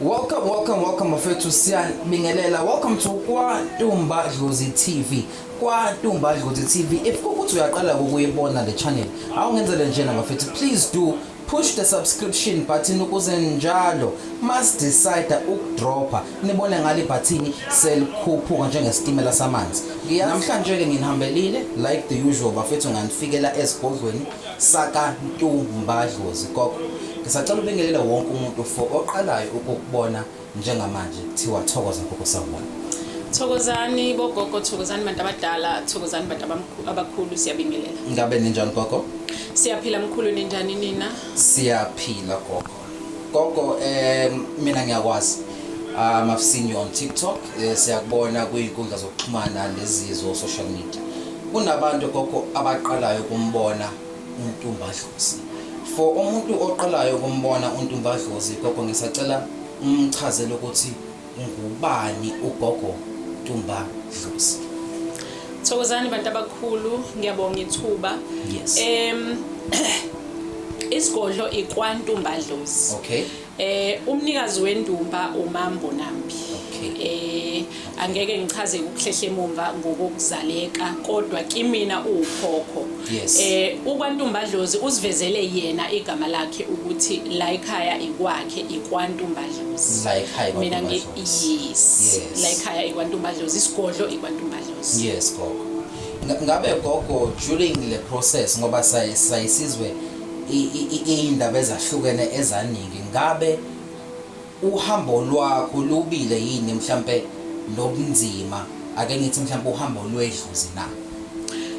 Welcome, welcome, welcome bafethu siyanibingelela. Welcome to KwaNtumba Dlozi TV. KwaNtumba Dlozi TV. If ukuthi uyaqala ukuyibona le channel, awungenzele njena bafethu. Please do push the subscription button ukuze njalo must decide ukudropha nibone ngale bhathini selikhuphuka njengesitimela samanzi namhlanje-ke nginihambelile like the usual bafethu nganifikela ezigodlweni Saka Ntu Mba Dlozi Gogo ngisacela ubingelele wonke umuntu for oqalayo ukukubona njengamanje kuthiwa thokoza gogo sawubona. Thokozani bogogo thokozani bantu abadala thokozani bantu abamkhu- abakhulu siyabingelela. Ngabe ninjani gogo? Siyaphila mkhulu ninjani nina? Siyaphila gogo. Gogo um mina ngiyakwazi um I've seen you on TikTok eh, siyakubona kwizinkundla zokuxhumana nezizo social media kunabantu gogo abaqalayo ukumbona uNtumbadlozi for umuntu oqalayo ukumbona uNtumbadlozi gogo ngisacela umchazele ukuthi Ngubani uGogo Tumba Dlozi? Thokozani bantu abakhulu, ngiyabonga ithuba. Yes. Em isigodlo ikwantumba dlozi. Okay. Eh umnikazi wendumba uMambo Nambi. Okay. Eh angeke ngichaze ukuhlehle emumva ngokuzaleka kodwa kimina uwukhokho. Yes. Eh ukwantumba dlozi usivezele yena igama lakhe ukuthi la ekhaya ikwakhe ikwantumba mina ngi yes la ekhaya ikwantumbadlozi isigodlo ikwantumbadlozi yes gogo ngabe gogo during le process ngoba sayisizwe iy'ndaba ezahlukene ezaningi ngabe uhambo lwakho lubile yini mhlampe lobunzima ake ngithi mhlampe uhambo lwedluzi na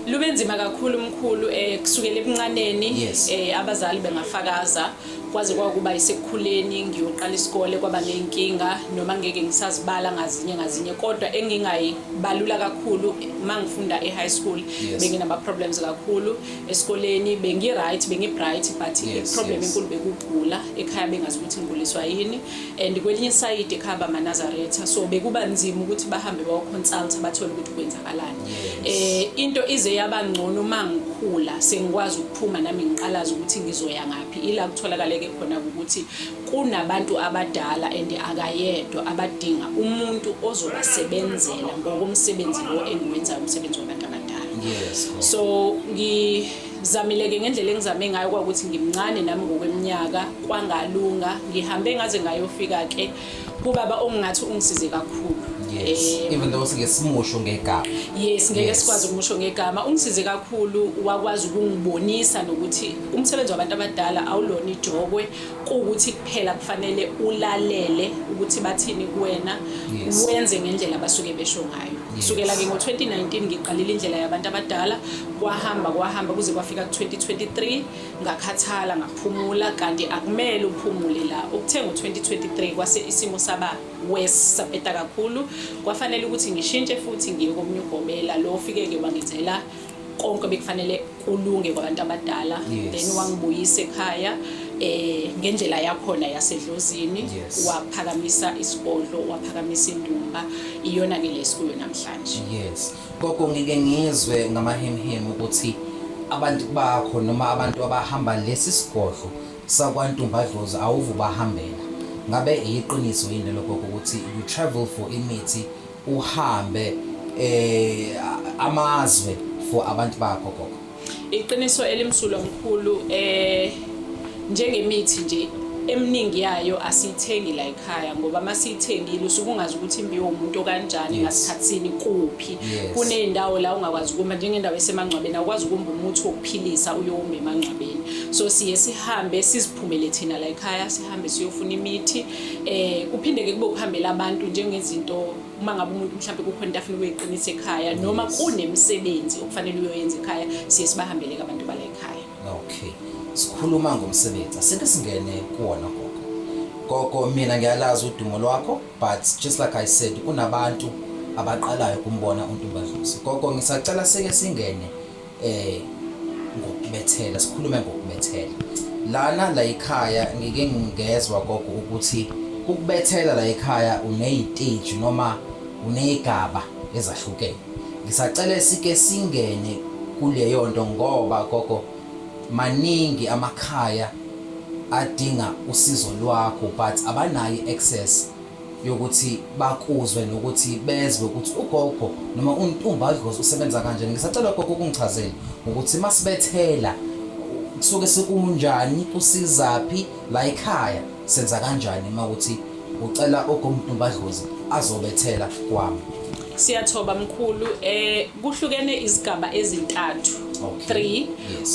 lube nzima kakhulu mkhulu eh kusukela ebuncaneni eh abazali bengafakaza kwaze kwakuba isekukhuleni ngiyoqala isikole kwaba ney'nkinga noma ngeke ngisazibala ngazinye ngazinye kodwa engingayibalula kakhulu uma ngifunda e-high school yes. benginama-problems kakhulu esikoleni bengi-right bengi-bright but yes, i-problem enkulu yes. bekugula ekhaya bengazi ukuthi ngiguliswa yini and kwelinye isayidi ekhaya bamanazaretha so bekuba nzima ukuthi bahambe bawoconsulta bathole ukuthi kwenzakalani um yes. eh, into ize yaba ngcono uma ngikhula sengikwaz Phuma nami ngiqalaza ukuthi ngizoya ngaphi ila kutholakaleke khona ukuthi kunabantu abadala and akayedwa abadinga umuntu ozobasebenzela ngokomsebenzi lo engiwenzayo umsebenzi wabantu abadala yes. so ngi zamileke ngendlela engizame ngayo kwakuthi ngimncane nami ngokweminyaka kwangalunga ngihambe ngaze ngayofika ke kubaba ongingathi ungisize kakhulu yes eh, even though sike simusho ngegama yes ngeke sikwazi ukumusho ngegama ungisize kakhulu wakwazi ukungibonisa nokuthi umsebenzi wabantu abadala awulona ijokwe ukuthi kuphela kufanele ulalele ukuthi bathini kuwena wenze ngendlela abasuke besho ngayo kusukela ke ngo-2019 ngiqalile indlela yabantu abadala kwahamba kwahamba kuze kwafika ku-2023 ngakhathala ngaphumula kanti akumele uphumule la ukuthe ngo-2023 kwase isimo saba worse sapeta kakhulu kwafanele ukuthi ngishintshe futhi ngiye komunye ugobela lo ofike-ke wangenzela konke bekufanele kulunge kwabantu abadala yes. then wangibuyisa ekhaya eh ngendlela yakhona yasedlozini yes. waphakamisa isigodlo waphakamisa indumba iyona ke lesikuyo namhlanje yes Gogo ngike ngizwe ngamahemhemu ukuthi abantu bakho noma abantu abahamba lesi sigodlo sakwantumbadlozi awuvu bahambela ngabe iyiqiniso yini lokho ukuthi you travel for imithi uhambe eh amazwe for abantu bakho gogo Iqiniso elimsulwa mkhulu eh njengemithi nje eminingi yayo asiyithengi la ekhaya ngoba uma siyithengile usuke ungazi ukuthi imbiwe umuntu okanjani ngasikhathini kuphi kuney'ndawo la ungakwazi ukuma njengendawo esemangcwabeni awukwazi ukumba umuthi wokuphilisa uyowumba emangcwabeni so siye sihambe siziphumele thina la ekhaya sihambe siyofuna imithi um kuphinde-ke kube ukuhambela abantu njengezinto uma ngabe umuntu mhlawumbe kukhona into afuna ukuyiqinisa ekhaya noma kunemisebenzi okufanele uyoyenza ekhaya siye sibahambeleke abantu bala ekhaya okay sikhuluma ngomsebenzi asike singene kuwona gogo gogo mina ngiyalazi udumo lwakho but just like i said kunabantu abaqalayo kumbona untumbadlusi gogo ngisacela sike singene eh ngokubethela sikhulume ngokubethela lana la ekhaya ngike ngingezwa gogo ukuthi ukubethela la ekhaya uneyiteji noma uneyigaba ezahlukene ngisacela sike singene kuleyo nto ngoba gogo maningi amakhaya adinga usizo lwakho but abanayo access yokuthi bakuzwe nokuthi bezwe ukuthi ugogo noma untumba adlozi usebenza kanjani ngisacela gogo ukungichazela ukuthi masibethela kusuke sekunjani usizaphi la ekhaya senza kanjani uma ukuthi ucela ogomtumba adlozi azobethela kwami siyathoba mkhulu eh kuhlukene izigaba ezintathu 3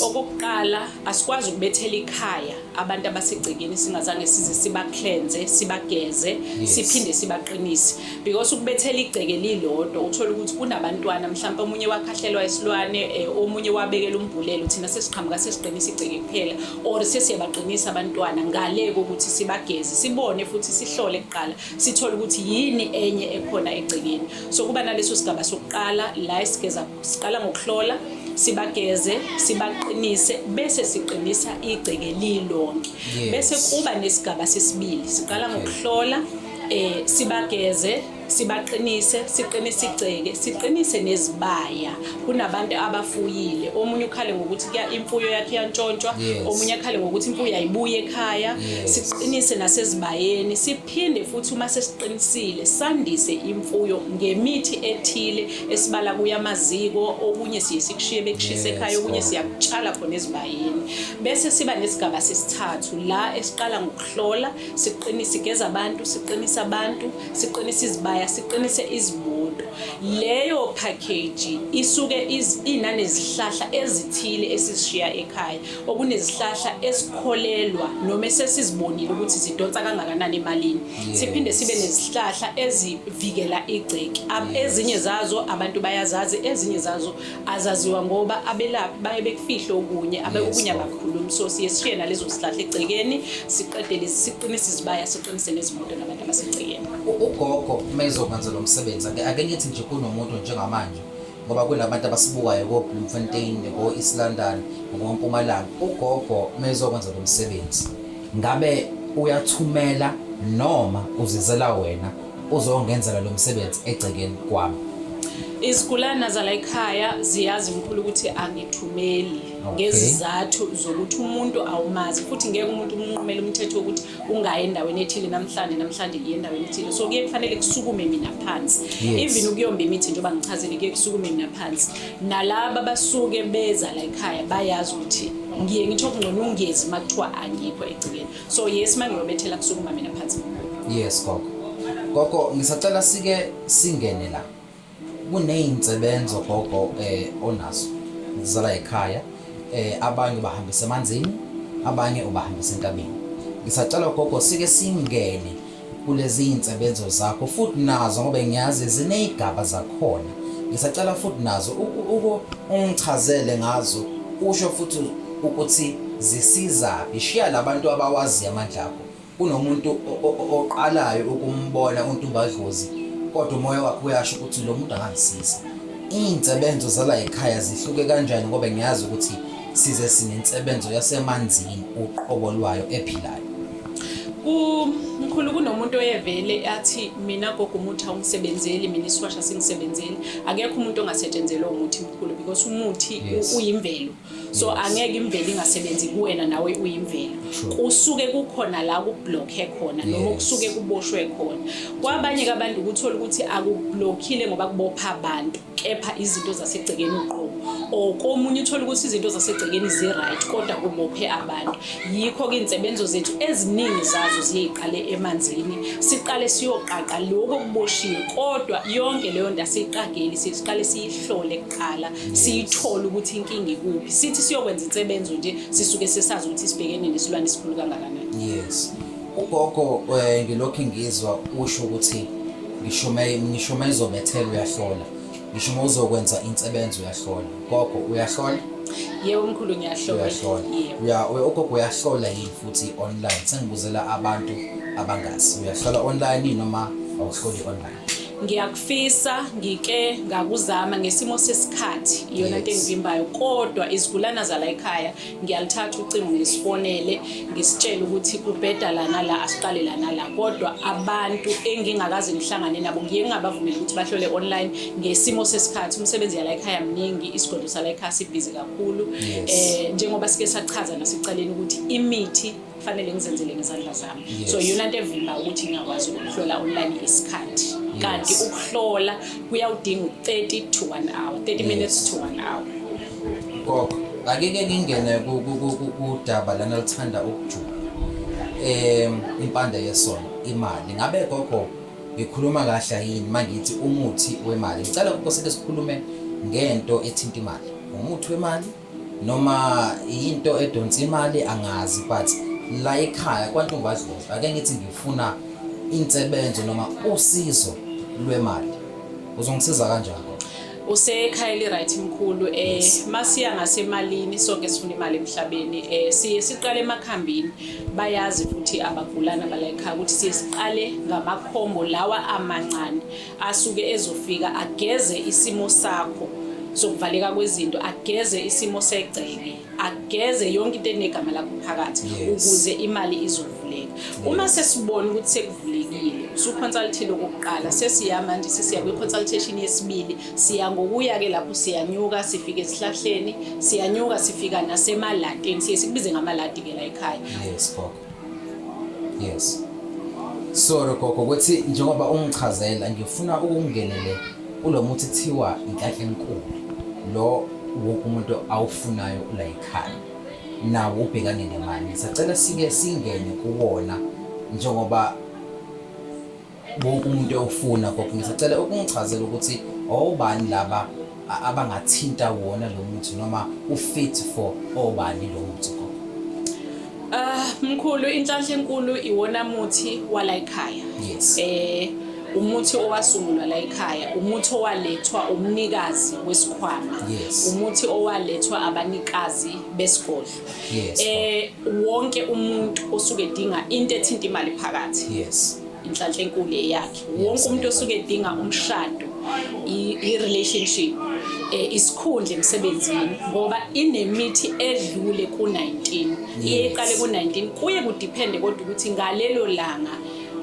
okokuqala asikwazi ukubethela ikhaya abantu abasegcekeni singazange size sibaklenze sibageze yes. siphinde sibaqinise because ukubethela igceke lilodwa uthola ukuthi kunabantwana mhlawumbe omunye wakhahlelwa isilwane eh, omunye wabekela umbhulelo thina sesiqhamuka sesiqinisa igceke kuphela or sesiyabaqinisa abantwana ngale kokuthi sibageze sibone futhi sihlole kuqala sithole ukuthi yini enye ekhona egcekeni so kuba naleso sigaba sokuqala la esigeza Siqala ngokuhlola, sibageze, sibaqinise bese siqinisa igceke lilonke. Yes. Bese kuba nesigaba sesibili. Siqala ngokuhlola, eh sibageze, sibaqinise siqinise igceke siqinise nezibaya kunabantu abafuyile omunye ukhale ngokuthi kuya imfuyo yakhe iyantshontshwa omunye akhale ngokuthi imfuyo ayibuye ekhaya siqinise nasezibayeni Phinde futhi uma sesiqinisile sandise imfuyo ngemithi ethile esibala kuya amaziko okunye siye sikushiye bekushise ekhaya okunye siyakutshala khona ezibayeni bese siba nesigaba sesithathu la esiqala ngokuhlola siqinise igeza abantu siqinise abantu siqinise izibaya siqinise izimoto leyo package isuke inane zihlahla ezithile esishiya ekhaya okunezihlahla esikholelwa noma esesizibonile ukuthi zidonsa kangakanani emalini siphinde sibe nezihlahla ezivikela igceki ezinye zazo abantu bayazazi ezinye zazo azaziwa ngoba abelaphi baye bekufihle okunye abekukunye abakhulumi so siye sishiye nalezo zihlahla egcekeni siqedele siqinise izibaya siqinise nezimoto nabantu abasegcekeni ugogo uma ezokwenza lo msebenzi ake ngithi nje kunomuntu njengamanje ngoba kunabantu abasibukayo ko-Bloemfontein, ko-East London, ngoMpumalanga. Ugogo mezokwenza lo msebenzi, ngabe uyathumela noma uzizela wena uzongenzela lo msebenzi egcekeni kwami? Izigulana zala ekhaya ziyazi mkhulu ukuthi angithumeli ngezizathu zokuthi umuntu awumazi futhi ngeke umuntu umnqumele umthetho wokuthi ungayi endaweni ethile namhlanje namhlanje ngiye endaweni ethile so kuye kufanele kusukume mina phansi even ukuyomba imithi njengoba ngichazile kuye kusukume mina phansi nalaba basuke beza la ekhaya bayazi ukuthi ngiye ngitho kungcono ungezi uma kuthiwa angikho egcikeni so yes uma ngiyobethela kusukuma mina phansi yes gogo gogo ngisacela sike singene la Kuney'nsebenzo gogo onazo zala yikhaya, abanye ubahambisa emanzini, abanye ubahambisa entabeni. Ngisacela gogo sike singene kulezi y'nsebenzo zakho futhi nazo ngoba ngiyazi ziney'gaba zakhona. Ngisacela futhi nazo ungichazele ngazo usho futhi ukuthi zisizaphi. Shiya la bantu abawaziyo amandla akho Kunomuntu oqalayo ukumbona uNtumbadlozi kodwa umoya wakhe uyasho ukuthi lo muntu angangisiza. Iy'nsebenzo zala ekhaya zihluke kanjani ngoba ngiyazi ukuthi size sinensebenzo yasemanzini uqobo lwayo ephilayo. Mkhulu kunomuntu oyevele athi mina gogo umuthi awungisebenzeli mina isiwasha singisebenzeli akekho umuntu ongasetshenzelwa umuthi mkhulu because umuthi uyimvelo so angeke imvelo ingasebenzi kuwena nawe uyimvelo kusuke kukhona la kublockhe khona noma kusuke kuboshwe khona kwabanye abantu ukuthola ukuthi akublockile ngoba kubopha abantu kepha izinto zasegcekeni uqobo or komunye uthola ukuthi izinto zasegcekeni zi-right kodwa kubophe abantu yikho-ke iy'nsebenzo zethu eziningi zazo ziyeyiqale emanzini siqale siyoqaqa lokho okuboshiwe kodwa yonke leyo nto asiyiqageli siqale siyihlole qala siyithole ukuthi inkinga ikuphi sithi siyokwenza insebenzo nje sisuke sesazi ukuthi sibhekene nesilwane esikhulu kangakanani yes ugogo eh, ngilokhu ngizwa usho ukuthi ngishume ngishume izobethela uyahlola ngisho uma uzokwenza insebenzo uyahlola gogo uyahlola yebo mkhulu ngiyahlola uyahlola ugogo uyahlola yini futhi online sengibuzela abantu abangazi uyahlola online noma awuhloli online ngiyakufisa ngike ngakuzama ngesimo sesikhathi iyona nto engivimbayo kodwa izigulana zala ekhaya ngiyalithatha ucingo ngisifonele ngisitshele ukuthi kubheda lana la asiqale lana la kodwa abantu engingakaze ngihlangane nabo ngiye ngingabavumeli ukuthi bahlole online ngesimo sesikhathi umsebenzi yala ekhaya mningi isigodlo sala ekhaya sibhizi kakhulu um njengoba sike sachaza nasekuqaleni ukuthi imithi kufanele ngizenzele ngezandla zami yes. so yona nto evimba ukuthi ngingakwazi ukuhlola online isikhathi yes. kanti ukuhlola kuyawudinga u-30 to 1 hour 30 yes. minutes to 1 hour gogo akeke ngingene kudaba lana lithanda ukujula um impanda yesona imali ngabe gogo ngikhuluma kahle yini uma ngithi umuthi wemali ngicela ukoseke sikhulume ngento ethinta imali umuthi wemali Noma yinto edonsa imali angazi but la ekhaya kwantombazodwa ake ngithi ngifuna insebenzo noma usizo lwemali. Uzongisiza kanjani? usekhaya eli-right mkhulu um eh, masiya ngasemalini sonke sifuna imali emhlabeni um siye siqale emakhambini bayazi futhi abagulana balayikhaya ukuthi siye siqale ngamakhombo lawa amancane asuke ezofika ageze isimo sakho sokuvaleka kwezinto ageze isimo segceke ageze yonke into enegama lakho phakathi ukuze imali izovuleka uma sesibona ukuthi sekuvulekile usuconsultile okokuqala sesiya manje sesiya kwi-consultation yesibili siya ngokuya-ke lapho siyanyuka sifike esihlahleni siyanyuka sifika nasemalatini siye sikubize ngamalati-ke la ekhaya yes sorry gogo ukuthi njengoba ungichazela ngifuna ukungenele kulo muthi thiwa inhlanhla enkulu lo wonke umuntu awufunayo ula yikhaya nawo ubhekane nemali sacela sike singene kuwona njengoba wonke umuntu ewufuna gogo ngisacela ukungichazela ukuthi obani laba abangathinta wona lo muthi noma ufit for obani lo muthi gogo ah mkhulu inhlanhla enkulu iwona muthi wala ekhaya yes eh umuthi owasungulwa la ekhaya umuthi owalethwa umnikazi wesikhwama yes. umuthi owalethwa abanikazi besigodlo yes. eh wonke umuntu osuke edinga into ethinta imali phakathi yes. inhlanhla enkulu eyakhe wonke umuntu osuke edinga umshado i-relationship eh, isikhundla emsebenzini ngoba inemithi edlule ku-19 iye iqale ku-19 kuye kudiphende kodwa ukuthi ngalelo langa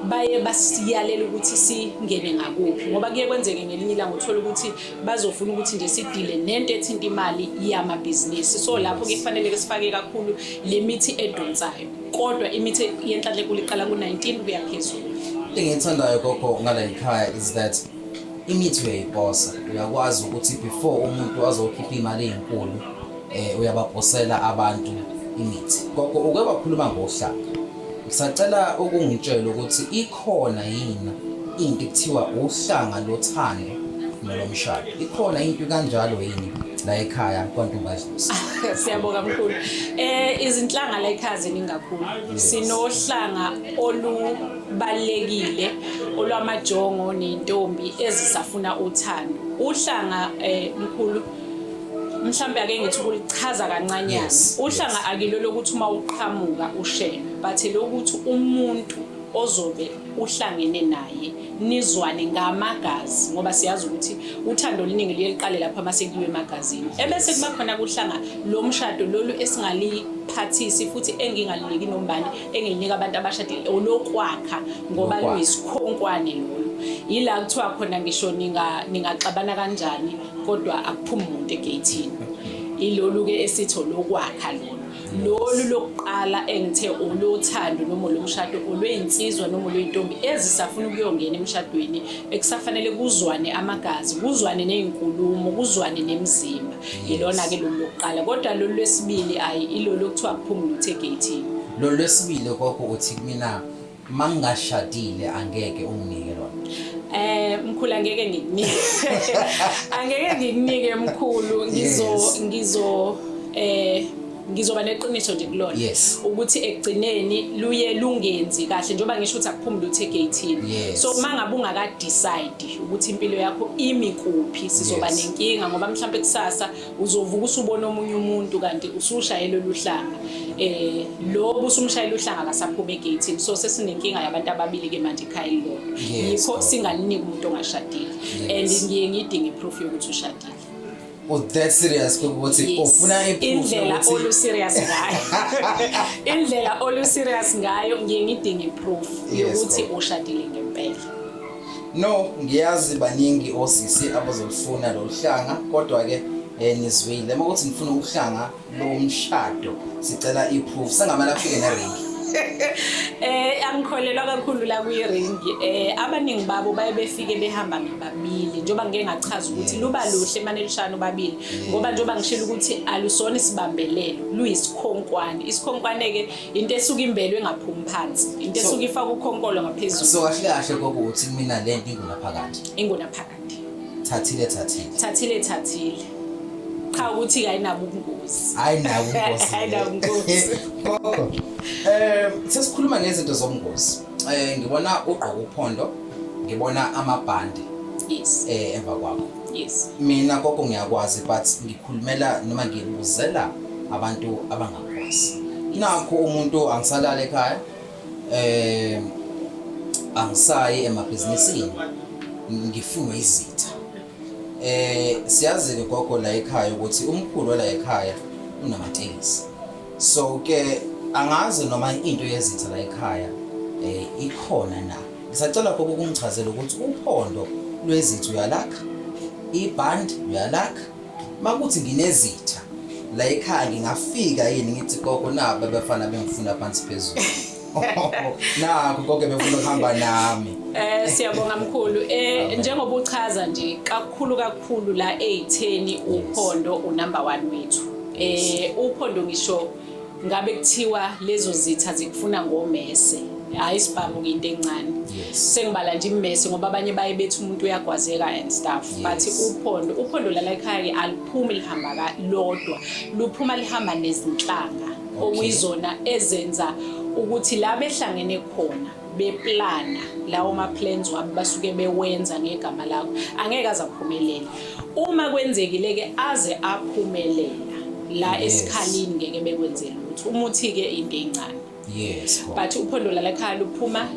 baye basiyalela ukuthi singene ngakuphi ngoba kuye kwenzeke ngelinye ilanga uthola ukuthi bazofuna ukuthi nje sidile nento ethinta imali yamabhizinisi so lapho kufanele ke sifake kakhulu le mithi edonsayo kodwa imithi yenhlanhla enkulu iqala ku-19 kuya phezulu into engiyithandayo gogo ngala yikhaya is that imithi uyayiposa uyakwazi ukuthi before umuntu azokhipha imali eyinkulu eh uyabaphosela abantu imithi gogo uke wakhuluma ngohlaka ngisacela ukungitshela ukuthi Khona yini into ekuthiwa uhlanga lothando nolomshado? Ikhona into kanjalo yini la ekhaya kwaNtombazisa? Siyabonga mkhulu. Eh izinhlanga la ekhaya ziningi kakhulu. Sinohlanga olubalekile olwamajongo nentombi ezisafuna uthando. Uhlanga eh mkhulu mhlambe ake ngithi ukulichaza kancanyana. Uhlanga akilo lokuthi uma uqhamuka ushela, but lokuthi umuntu ozobe uhlangene naye nizwane ngamagazi ngoba siyazi ukuthi uthando oluningi luye luqale lapho uma sekuyiwe emagazini ebese kuba khona kuhlanga lo mshado lolu esingaliphathisi futhi engingaliniki nombani engilinika abantu abashadile olokwakha ngoba luyisikhonkwane lolu yila kuthiwa khona ngisho ningaxabana kanjani kodwa akuphumi umuntu egeyithini ilolu-ke esitho lokwakha lolu lolu lokuqala engithe olothando noma olomshado olweyinsizwa noma olweyintombi ezisafuna ukuyongena emshadweni ekusafanele kuzwane amagazi kuzwane nezinkulumo kuzwane nemizimba yilona ke lolu lokuqala kodwa lolu lwesibili ayi ilolu okuthiwa kuphumula uthe gate lolu lwesibili kokho uthi mina mangingashadile angeke unginike lona Eh mkhulu angeke ngikunike. Angeke ngikunike mkhulu ngizo ngizo eh ngizoba neqiniso nje kulona yes. ukuthi ekugcineni luye lungenzi kahle njengoba ngisho ukuthi akuphumule uthe gathini yes. so uma ngabe ungakadecide ukuthi impilo yakho imi kuphi sizoba yes. nenkinga ngoba mhlawumbe kusasa uzovuka usubona omunye umuntu kanti usushayela oluhlanga eh lo busumshayela uhlanga akasaphuma egate so sesinenkinga yabantu ababili ke manje ekhaya elilodwa yikho singaliniki umuntu ongashadile and ngiye ngidinge proof yokuthi ushadile u oh, that serious ukuthi ufuna indlela olu serious ngayo indlela olu serious ngayo ngiye ngidinge proof yokuthi ushadile ngempela No, ngiyazi baningi osisi abazolufuna lolu hlanga kodwa-ke um nizwile uma ukuthi ngifuna ukuhlanga lomshado sicela i-proof sengamele afike neringi eh angikholelwa kakhulu la kwi-ring eh abaningi babo baye befike behamba ngababili njengoba ngike ngachaza ukuthi luba luhle mane lushana ubabili ngoba njengoba ngishilo ukuthi alusona isibambelelo luyisikhonkwane isikhonkwane-ke into esuke imbelwe ngaphumi phansi into esuke ifaka ukhonkolo ngaphezulu so kahle kahle kokuthi mina le nto ingunaphakade ingunaphakade thathile thathile thathile thathile cha ukuthi kayinabo ubungozi ayinabo ubungozi ayinabo ubungozi eh sesikhuluma ngezinto zobungozi eh ngibona ugqoka uphondo ngibona amabhande yes eh emva kwakho yes mina gogo ngiyakwazi but ngikhulumela noma ngibuzela abantu abanga nakho umuntu angisalale ekhaya eh angisayi emabhizinisini ngifunwe izitha eh siyazi ke gogo la ekhaya ukuthi umkhulu la ekhaya unamatekisi so ke angazi noma into yezitha la ekhaya eh ikhona na ngisacela gogo ukungichazela ukuthi uphondo lwezitha uyalakha iband uyalakha Makuthi nginezitha la ekhaya ngingafika yini ngithi gogo nabo abafana bengifuna phansi phezulu. Nakho konke befuna ukuhamba nami. Eh siyabonga mkhulu. Eh njengoba uchaza nje kakhulu kakhulu la ezitheni uphondo unumber 1 wethu. Eh uphondo ngisho ngabe kuthiwa lezo zitha zikufuna ngomese hayi sibhamu into encane sengibala nje immese ngoba abanye baye bethi umuntu uyagwazeka and stuff but uphondo uphondo lala ekhaya aliphumi lihamba lodwa luphuma lihamba nezinhlanga okuyizona ezenza ukuthi la behlangene khona beplana lawo ma-plans wabo basuke bewenza ngegama lakho angeke aze aphumelele uma kwenzekile-ke aze aphumelela la yes. esikhalini ngeke bekwenzela ukuthi umuthi-ke into encane yes but uphondo lalakhaya luphuma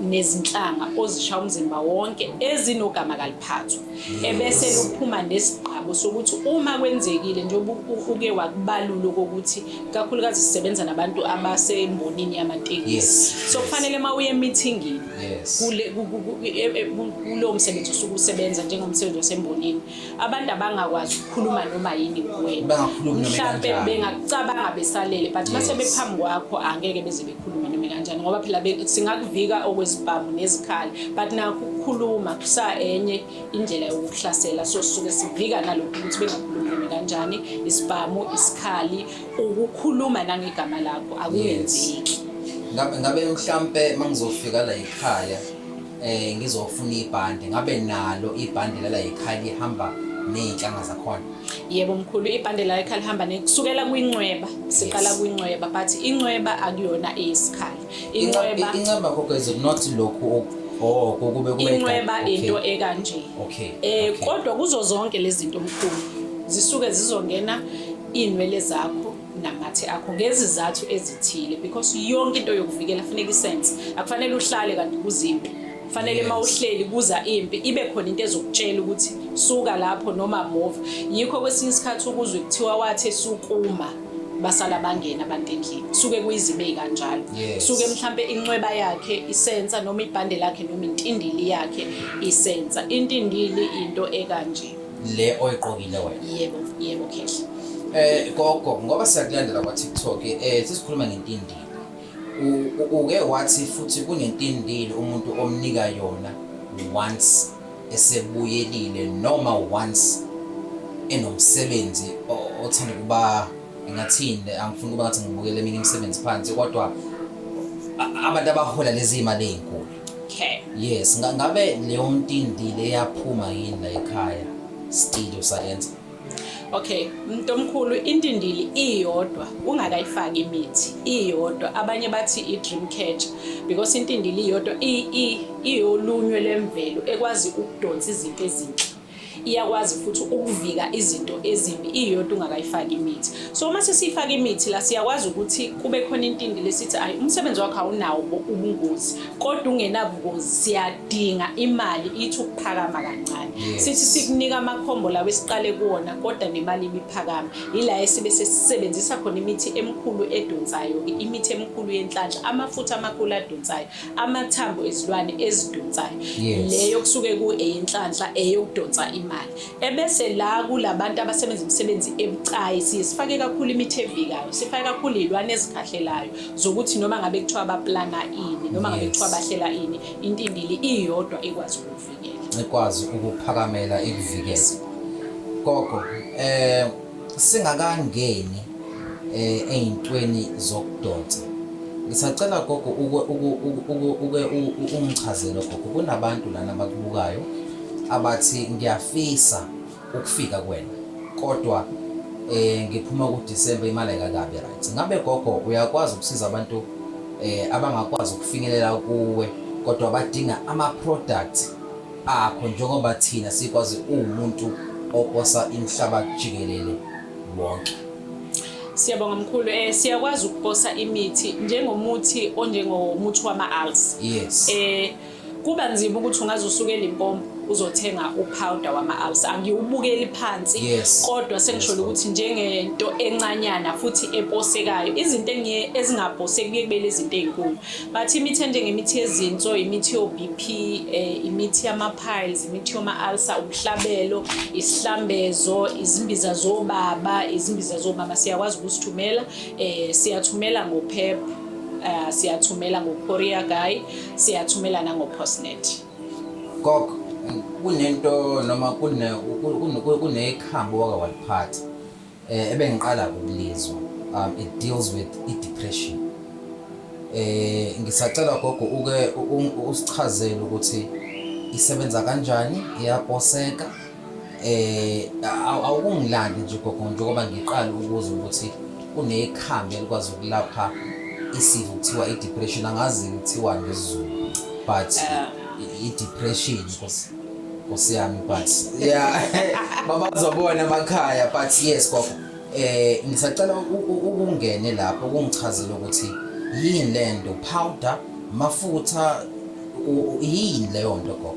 nezinhlanga ozisha umzimba wonke ezinogama kaliphathwa ebese luphuma nesigqabo sokuthi uma kwenzekile njengoba uke wakubalula kokuthi kakhulukazi sisebenza nabantu abasembonini yamatekisi so kufanele uma uye emithingini kulowo msebenzi osuke usebenza njengomsebenzi wasembonini abantu abangakwazi ukukhuluma noma yini kuwena mhlampe bengakucabanga besalele but uma sebephambi kwakho angeke beze khuluma nami kanjani ngoba phela singakuvika okwezibhamu nezikhali but nakho ukukhuluma kusa enye indlela yokuhlasela so sisuke sivika nalokhu ukuthi bengakhulumi nami kanjani isibhamu isikhali ukukhuluma nangegama lakho akuyenzeki ngabe mhlampe mangizofika la ekhaya eh ngizofuna ibhande ngabe nalo ibhande lala ekhaya lihamba nezinhlanga zakhona yebo mkhulu ibhande la ekhaya lihamba nekusukela kwincweba siqala Yes. kwincweba but incweba akuyona eyesikhali incweba inceba kodwa is it not lokhu ok- oh kokube kube incweba Okay. into ekanje okay eh okay. kodwa kuzo zonke lezi zinto mkhulu zisuke zizongena inwele zakho namathe akho ngezizathu ezithile because yonke into yokuvikela funeka isense akufanele uhlale kanti kuzimpi fanele uma uhleli kuza impi ibe khona into ezokutshela ukuthi suka lapho noma move yikho kwesinye isikhathi ukuzwe kuthiwa wathe sukuma basala bangena abantu endlini suke kuyizibe kanjalo suke mhlambe inxweba yakhe isensa noma ibhande lakhe noma intindili yakhe isensa intindili into ekanje le oyiqokile wena yebo yebo khehla eh gogo ngoba siyakulandela kwa TikTok eh sisikhuluma ngentindile U- u- uke wathi futhi kunentindile umuntu omnika yona once esebuyelile noma once enomsebenzi o- othanda ukuba ngathini angifuni ukuba ngathi ngibukele eminye imisebenzi phansi kodwa a- abantu abahola lezi imali ezinkulu Okay. Yes, nga- ngabe leyo ntindi leyaphuma yini la ekhaya still usayenza. Okay, umuntu omkhulu intindili iyodwa ungakayifaki imithi iyodwa abanye bathi i dream catcher because intindili iyodwa i- i- iyolunywe lemvelo ekwazi ukudonsa izinto ezinhle. iyakwazi futhi ukuvika izinto ezimbi iyodwa ungakayifaki imithi so uma sesiyifaka imithi la siyakwazi ukuthi kube khona intindi lesithi ayi umsebenzi wakho awunawo ubungozi kodwa ungenabungozi siyadinga imali ithi ukuphakama kancane sithi sikunika amakhombo lawo esiqale kuwona kodwa nemali ibiphakama yila esibe sesisebenzisa khona imithi emikhulu edonsayo imithi emikhulu yenhlanhla amafutha amakhulu adonsayo amathambo ezilwane ezidonsayo yes. leyo kusuke kueyinhlanhla eyokudonsa imali ebese la kulabantu abasebenza imisebenzi ebucayi siye sifake kakhulu imithi evikayo sifake kakhulu izilwane ezikhahlelayo zokuthi noma ngabe kuthiwa abaplana ini noma ngabe kuthiwa bahlela ini intindili iyodwa ekwazi ukuvikela ekwazi ukuphakamela ikuvikela gogo eh Singakangeni eh ezintweni zokudonsa. Ngisacela gogo uke uke ungichazele gogo kunabantu lana abakubukayo abathi ngiyafisa ukufika kuwena kodwa eh ngiphuma ku December imali ayikakabi right. Ngabe gogo uyakwazi ukusiza abantu eh abangakwazi ukufinyelela kuwe kodwa badinga ama product akho njengoba thina sikwazi uwumuntu oposa imhlaba jikelele wonke. Siyabonga mkhulu eh siyakwazi ukuposa imithi njengomuthi onjengomuthi wama-alls. Yes. Eh kuba nzima ukuthi ungaze usukele impompo uzothenga upowder wama-alls angiwubukeli phansi Yes. kodwa sengisholo Yes, ukuthi njengento encanyana futhi eposekayo izinto engiye ezingaposeki kuye kube lezi zinto ey'nkulu But imithi enjengemithi yezinso, imithi yo-BP, eh, imithi yama-piles, imithi yoma-ulcer, umhlabelo, isihlambezo, izimbiza zobaba, izimbiza zomama siyakwazi ukusithumela. Eh, siyathumela ngoPEP, eh, siyathumela ngoCourier Guy, siyathumela nangoPostnet. Gogo, kunento noma kune kunekhambo wake waliphatha. Eh ebengiqala ukulizwa um it deals with i depression. Eh ngisacela gogo uke usichazele ukuthi isebenza kanjani iyaposeka eh awukungilandi nje gogo njengoba ngiqala ukuze ukuthi kunekhambi elikwazi ukulapha isifo kuthiwa i depression angazi kuthiwa ngesiZulu but eh. i depression Nkosi yami but yeah babazobona emakhaya but yes gogo eh ngisacela ukungene lapho kungichazele ukuthi yini lento powder mafutha yini leyo nto gogo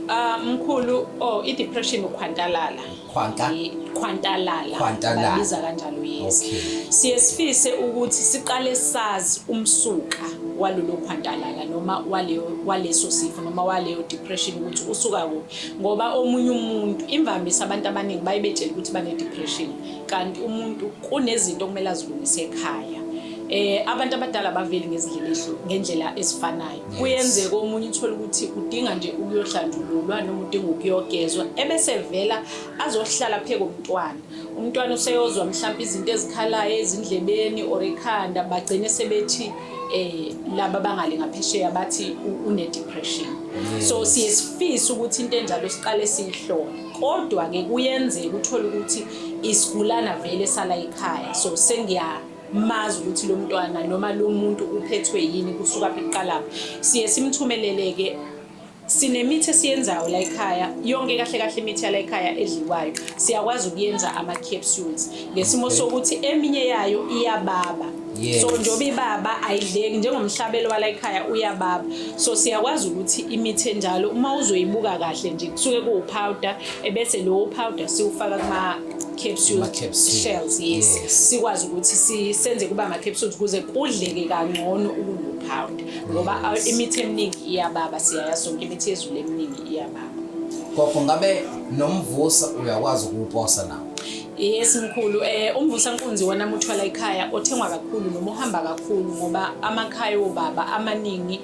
Ah mkhulu oh i depression ukhwantalala Khwanta khwantalala khwantalala babiza kanjalo yes okay. siye sifise ukuthi siqale sazi umsuka walolo khwantalala noma waleyo waleso sifo noma waleyo depression ukuthi usuka kuphi ngoba omunye umuntu imvamisa abantu abaningi bayebetshela ukuthi bane depression kanti umuntu kunezinto okumele azilungise ekhaya eh abantu abadala baveli ngezindlela ezihlu ngendlela ezifanayo kuyenzeka omunye uthole ukuthi udinga nje ukuyohlanjululwa noma udinga ukuyogezwa ebese vela azohlala phe komntwana umntwana useyozwa mhlawumbe izinto ezikhalayo ezindlebeni or ekhanda bagcine sebethi eh laba bangale ngaphesheya bathi une depression so siye sifisa ukuthi into enjalo siqale siyihlole kodwa ke kuyenzeka uthole ukuthi isigulana vele sala ekhaya so sengiya mazi ukuthi lo mntwana noma lo muntu uphethwe yini kusuka phi kuqalapho siye simthumeleleke sinemithi esiyenzayo la ekhaya yonke kahle kahle imithi yala ekhaya edliwayo siyakwazi ukuyenza ama-capsules ngesimo sokuthi eminye yayo iyababa Yes. so njengoba ibaba ayidleki njengomhlabelo wala ekhaya uyababa so siyakwazi ukuthi imithi enjalo uma uzoyibuka kahle nje kusuke kuwupowder ebese lowo powder siwufaka kuma capsule Ama capsule. shells yes, Yes. sikwazi ukuthi si- senze kuba ama capsules kuze kudleke kangcono ukunopowder ngoba a- imithi eminingi iyababa siyaya sonke imithi yezulu eminingi iyababa gogo ngabe nomvusa uyakwazi ukuwuposa nawo yes mkhulu eh umvusa nkunzi wona muthwala ekhaya othengwa kakhulu noma uhamba kakhulu ngoba amakhaya obaba amaningi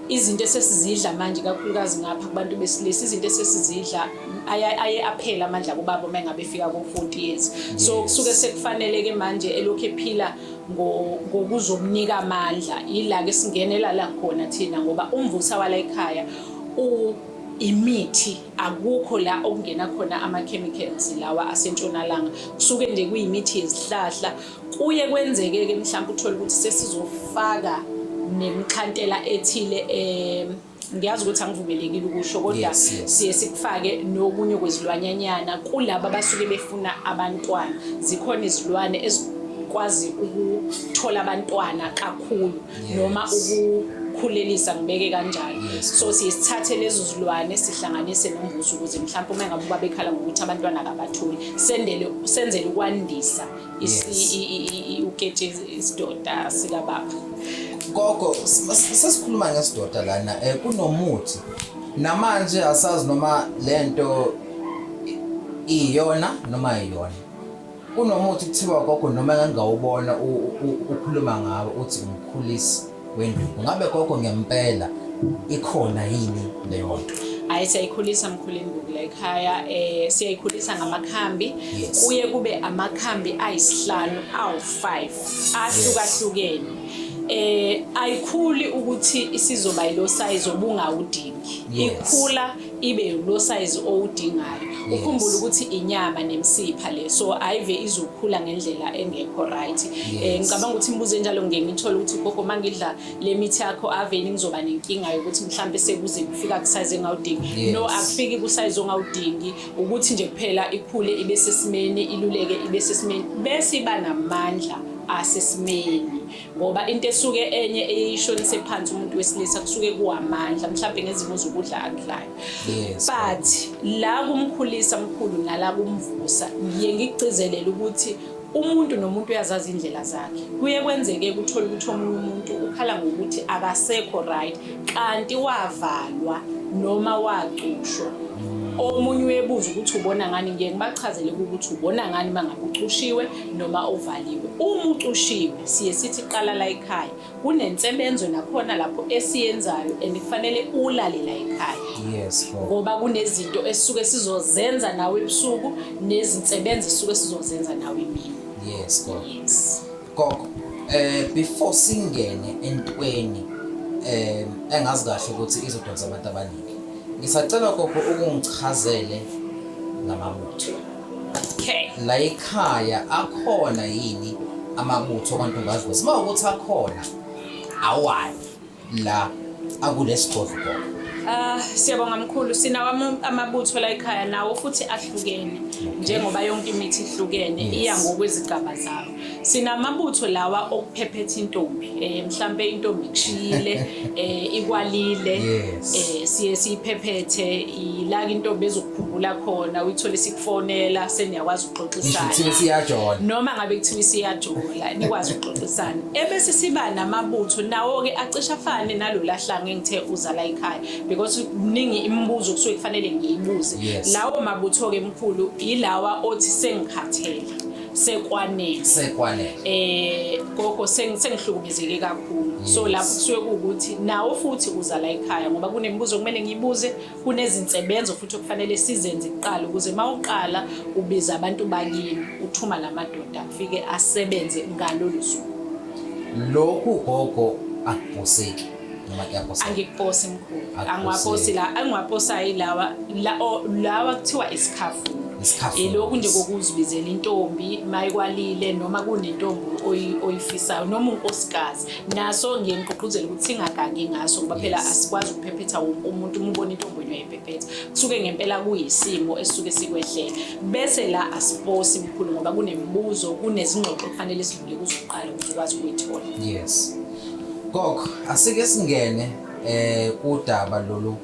izinto esesizidla manje kakhulukazi ngapha kubantu besilisa izinto esesizidla aye aphela amandla kubaba uma engabe efika ko-40 years so kusuke sekufanele-ke manje elokhu ephila ngokuzomnika amandla yila-ke singenela la khona thina ngoba umvusa wala ekhaya imithi akukho la okungena khona ama-chemicals lawa asentshonalanga kusuke nje kuyimithi yezihlahla Kuye kwenzeke-ke mhlawumbe uthole ukuthi sesizofaka nemkhantela ethile um ngiyazi ukuthi angivumelekile ukusho kodwa siye sikufake nokunye kwezilwanyanyana kulaba abasuke befuna abantwana zikhona izilwane ezikwazi ukuthola abantwana kakhulu noma ukukhulelisa ngibeke kanjalo so siye sithathe lezo zilwane sihlanganise nombuso ukuze mhlawumbe uma ngabe ubabekhala ngokuthi abantwana akabatholi sendele senzele ukwandisa uketshezi isidoda sikababa gogo sesikhuluma ngesidoda lana um kunomuthi namanje asazi noma le nto iyona noma iyona kunomuthi kuthiwa gogo noma engangawubona ukhuluma ngawo uthi umkhulisi wenduku ngabe gogo ngempela ikhona yini leyo nto hayi siyayikhulisa mkhulu induku la ekhaya um siyayikhulisa ngamakhambi kuye kube amakhambi ayisihlanu awu-five ahlukahlukene eh ayikhuli ukuthi isizoba yilo size obungawudingi ikhula ibe losayizi owudingayo ukhumbule ukuthi inyama nemsipha le so ayive izokhula ngendlela engekho right eh ngicabanga ukuthi imibuzo enjalo ngeke ngithole ukuthi gogo mangidla le mithi yakho aveni ngizoba nenkinga yokuthi mhlambe sekuze kufika kusize engawudingi no akufiki kusize ongawudingi ukuthi nje kuphela ikhule ibe sesimeni iluleke ibe sesimeni bese iba namandla asesimeni ngoba into esuke enye eyishonise phansi umuntu wesilisa kusuke kuwamandla mhlawumbe ngezimo zokudla akudlayo but la kumkhulisa mkhulu nala kumvusa ngiye ngigcizelele ukuthi umuntu nomuntu uyazazi indlela zakhe kuye kwenzeke kuthole ukuthi omunye umuntu ukhala ngokuthi akasekho right kanti wavalwa noma wacushwa omunye uyebuza ukuthi ubona ngani ngiye ngibachazele ukuthi ubona ngani uma ngabe ucushiwe noma ovaliwe. Uma ucushiwe siye sithi qala la ekhaya. Kunensebenzo nakhona lapho esiyenzayo and kufanele ulale la ekhaya. Yes. Ngoba kunezinto esisuke sizozenza nawe ebusuku nezinsebenzo esisuke sizozenza nawe imini. Yes, gogo. Yes. Gogo, eh before singene entweni eh engazi kahle ukuthi izodonsa abantu abaningi. Ngisacela gogo ukungichazele ngamabutho. Okay. La ekhaya akhona yini amabutho kwantombazwe? Siba ukuthi akhona awani la akulesigodlo. Ah siyabonga mkhulu sinawo amabutho la ekhaya nawo futhi ahlukene njengoba yonke imithi ihlukene iya ngokwezigaba zawo. Sinamabutho lawa okuphephetha intombi eh mhlambe intombi kushiyile eh ikwalile eh siye siyiphephethe ilaka intombi ezokukhumbula khona uyithole sikufonela seniyakwazi ukuxoxisana Ngisho siyajola noma ngabe kuthiwa isiyajola nikwazi ukuxoxisana ebese siba namabutho nawo ke acisha fane nalolahlanga engithe uzala ekhaya because kuningi imibuzo kusuke kufanele ngiyibuze lawo mabutho ke mkhulu ilawa othi sengikhathele sekwanele sekwanele eh gogo sengihlukumezeke kakhulu so lapho kusuke kuwukuthi nawo futhi uza la ekhaya ngoba kunemibuzo kumele ngibuze kunezinsebenzo futhi okufanele sizenze kuqala ukuze mawuqala ubiza abantu bakini uthuma lamadoda afike asebenze ngalolu suku lokhu gogo akubhoseki noma kuyaposa angiposi mkhulu angiwaposi la angiwaposayo ilawa lawa kuthiwa isikhafu ilokhu nje kokuzibizela intombi mayikwalile noma kunentombi oyifisayo noma unkosikazi naso ngiye ngigqugquzele ukuthi singagangi ngaso ngoba phela asikwazi ukuphephetha wonke umuntu uma ubona intombi onye uyayiphephetha kusuke ngempela kuyisimo esisuke sikwehlele bese la asiposi mkhulu ngoba kunemibuzo kunezingxoxo kufanele sidlule kuzoqala ukuthi ukwazi ukuyithola yes Gogo, asike singene eh kudaba lolu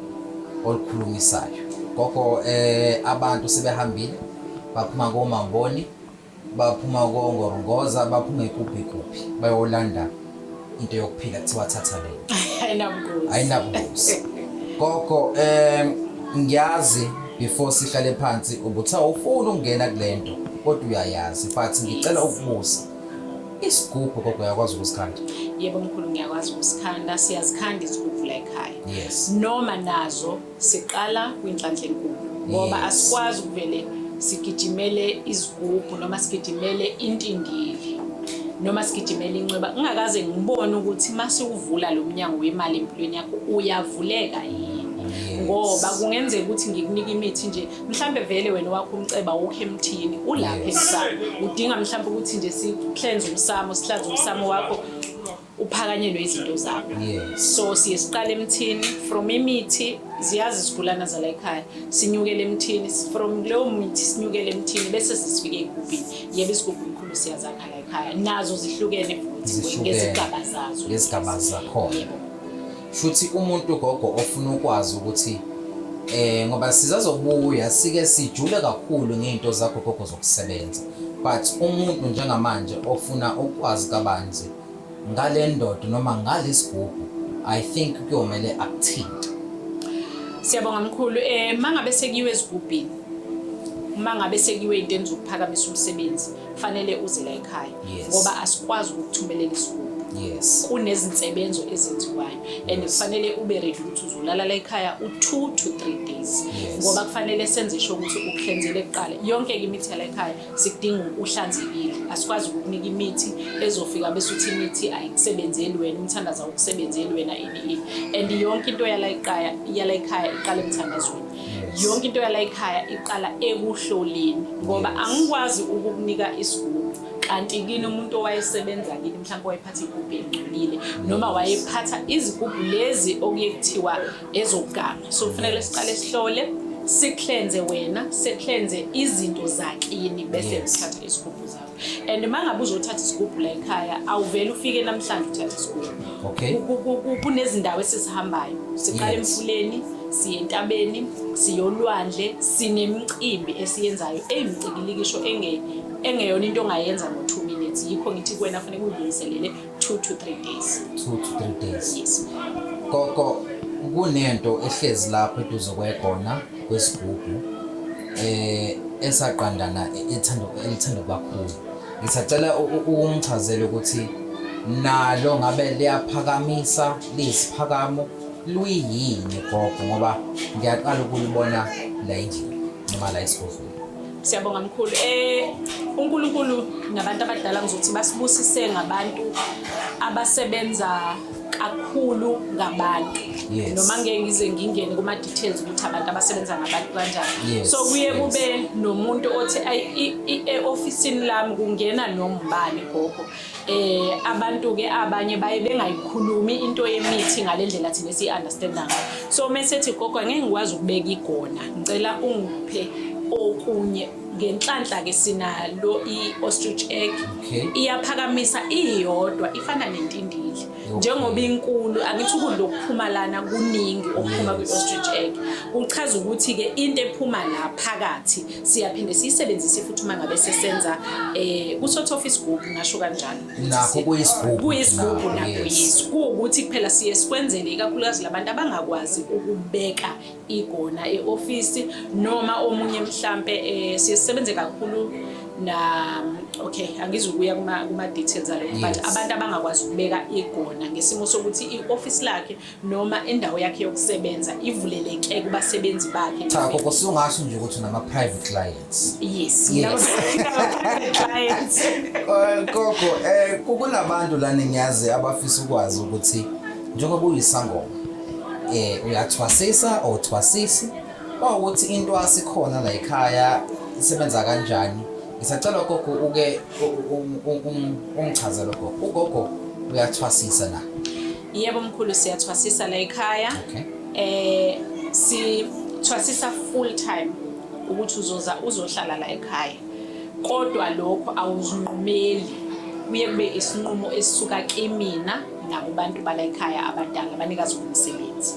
olukhulumisayo. Gogo eh abantu sebehambile baphuma komamboni baphuma kongorongoza baphuma ikuphi kuphi bayolanda into yokuphila kuthiwa thatha le. Ayinabungozi. Ayinabungozi. Gogo eh ngiyazi before sihlale phansi ubuthi awufuni ukungena kulento kodwa uyayazi but ngicela ukubuza Isigubhu gogo uyakwazi ukusikhanda? Yebo mkhulu ngiyakwazi ukusikhanda, siyazikhanda izigubhu la ekhaya. Yes. Noma nazo siqala kwinhlanhla enkulu ngoba Yes. asikwazi ukuvele sigijimele izigubhu noma sigijimele intindili noma sigijimele incweba ngingakaze ngibone ukuthi uma siwuvula lo mnyango wemali empilweni yakho uyavuleka yini Yes. ngoba kungenzeka ukuthi ngikunike imithi nje mhlambe vele wena wakho umceba wokho emthini ulapha emsamo udinga mhlambe ukuthi nje sihlenze umsamo sihlanze umsamo wakho uphakanyelwe izinto zakho so siye siqale emthini from imithi ziyazi isigulana zala ekhaya sinyukele emthini from leyo mithi sinyukele emthini bese sisifike egubhini yebo isigubhu mkhulu siyazakha la ekhaya nazo zihlukene futhi ngezigaba zazo ngezigaba zakhona shuthi umuntu ugogo ofuna ukwazi ukuthi eh ngoba sizazobuya sike sijule kakhulu ngeinto zakho gogo zokusebenza but umuntu njengamanje ofuna ukwazi kabanzi ngale ndoda noma ngalesigubhu i think kuyomele akuthinte siyabonga mkhulu eh mangabe sekiwe ezigubhini uma ngabe sekiwe into enizokuphakamisa umsebenzi kufanele uze la ekhaya yes. ngoba asikwazi ukukuthumelela isigubu yes. kunezinsebenzo ezenziwayo and kufanele ube ready ukuthi uzolala la ekhaya u-two to three days yes. ngoba kufanele senze sho ukuthi ukuhlenzele kuqala yonke ke imithi yala ekhaya sikudinga uhlanzekile asikwazi ukukunika imithi ezofika bese uthi imithi ayikusebenzeli wena umthandaza ukusebenzeli wena ini ini and yonke into yala ekhaya yala ekhaya iqala emthandazweni yonke into yala ekhaya iqala ekuhloleni ngoba angikwazi ukukunika isigugu kanti kini umuntu owayesebenza kini mhlawumbe wayephatha igubhu elingcolile noma wayephatha izigubhu lezi okuye kuthiwa ezokugama so kufanele siqale sihlole siklenze wena seklenze izinto zakini bese uthatha isigubhu zakho and uma ngabe uzothatha isigubhu la ekhaya awuvele ufike namhlanje uthathe isigubhu okay kunezindawo esizihambayo siqala emfuleni siye entabeni siyolwandle sinemicimbi esiyenzayo eyimcikilikisho engeyona into ongayenza ngo-two minutes yikho ngithi kuwena funeka uyilungiselele 2 to 3 days 2 to 3 days yes gogo kunento ehlezi lapho eduze kwegona kwesigubhu eh esaqandana ethanda elithanda kakhulu ngisacela ukumchazela ukuthi nalo ngabe liyaphakamisa lisiphakamo luyini gogo ngoba ngiyaqala ukulibona la endlini noma la esigodlweni Siyabonga mkhulu. Eh uNkulunkulu nabantu abadala ngizothi basibusise ngabantu abasebenza kakhulu ngabantu yes. noma ngeke ngize ngingene kuma details ukuthi abantu abasebenza ngabantu kanjani yes. so kuye yes. kube nomuntu othi e office lami kungena nombani gogo eh abantu ke abanye baye bengayikhulumi into yemithi ngalendlela thina si understand ngayo so mesethi gogo ngeke ngikwazi ukubeka igona ngicela ungiphe okunye ngenhlanhla ke sinalo i ostrich egg iyaphakamisa iyodwa ifana nentindili njengoba inkulu angithi ukudla okuphuma lana kuningi okuphuma kwi-ostrich egg kuchaza ukuthi-ke into ephuma la phakathi siyaphinde siyisebenzise futhi uma ngabe sesenza um eh, kusotha off isigubhu ngasho kanjalo kuyisigubhu nakuyiso kuwukuthi kuphela siye sikwenzele ikakhulukazi labantu abangakwazi ukubeka igona eofisi noma omunye mhlampe eh, siye sisebenze kakhulu na okay angizukuya kuma kuma details alo but abantu abangakwazi ukubeka igona ngesimo sokuthi ioffice lakhe noma indawo yakhe yokusebenza ivuleleke kubasebenzi bakhe cha koko sungasho nje ukuthi nama private client Yes, yes. clients. Eh, Gogo, eh kukunabantu la ningiyazi abafisa ukwazi ukuthi njengoba kuyisangoma eh uyathwasisa or thwasisi bawukuthi into asikhona la ekhaya isebenza kanjani ngisacela gogo uke ungichazele gogo ugogo uyathwasisa na yebo mkhulu siyathwasisa la ekhaya okay. eh si thwasisa full time ukuthi uzoza uzohlala la ekhaya kodwa lokho awuzinqumeli kuye kube isinqumo esisuka kimina nakubantu bala ekhaya abadala abanikazi bomsebenzi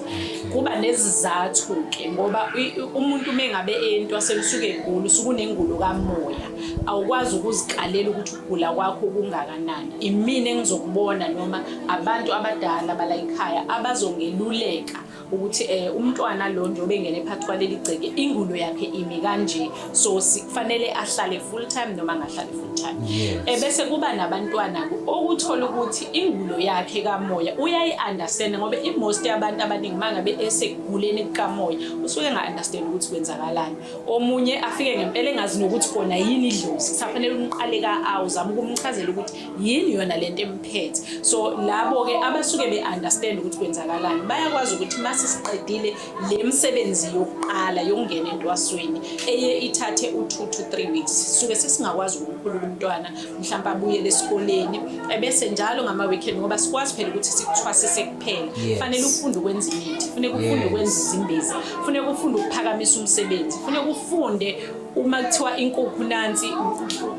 kuba nezizathu-ke ngoba umuntu uma engabe entwaseni usuke egula usuke unengulo kamoya awukwazi ukuzikalela ukuthi ukugula kwakho kungakanani imina engizokubona noma abantu abadala bala ekhaya abazongeluleka ukuthi eh umntwana lo nje obengene phakathi kwaleli gceke ingulo yakhe imi kanje so kufanele ahlale full time noma angahlali full time ebese eh, kuba nabantwana okuthola ukuthi ingulo yakhe kamoya uyayi understand ngoba i most yabantu abaningi mangabe eseguleni kamoya usuke nga understand ukuthi kwenzakalani omunye afike ngempela engazi nokuthi kona yini idlozi kusafanele umqale ka awuzama ukumchazela ukuthi yini yona lento emphethe so labo ke abasuke be understand ukuthi kwenzakalani bayakwazi ukuthi mase siqedile le msebenzi yokuqala yokungena entwasweni eye ithathe u 2 to 3 weeks suke sesingakwazi ukukhulula umntwana mhlawumbe abuye lesikoleni ebese njalo ngama weekend ngoba sikwazi phela ukuthi sikuthwasise kuphela fanele ufunde ukwenza imithi funeka ufunde ukwenza izimbezi funeka ufunde ukuphakamisa umsebenzi funeka ufunde uma kuthiwa inkukhu nansi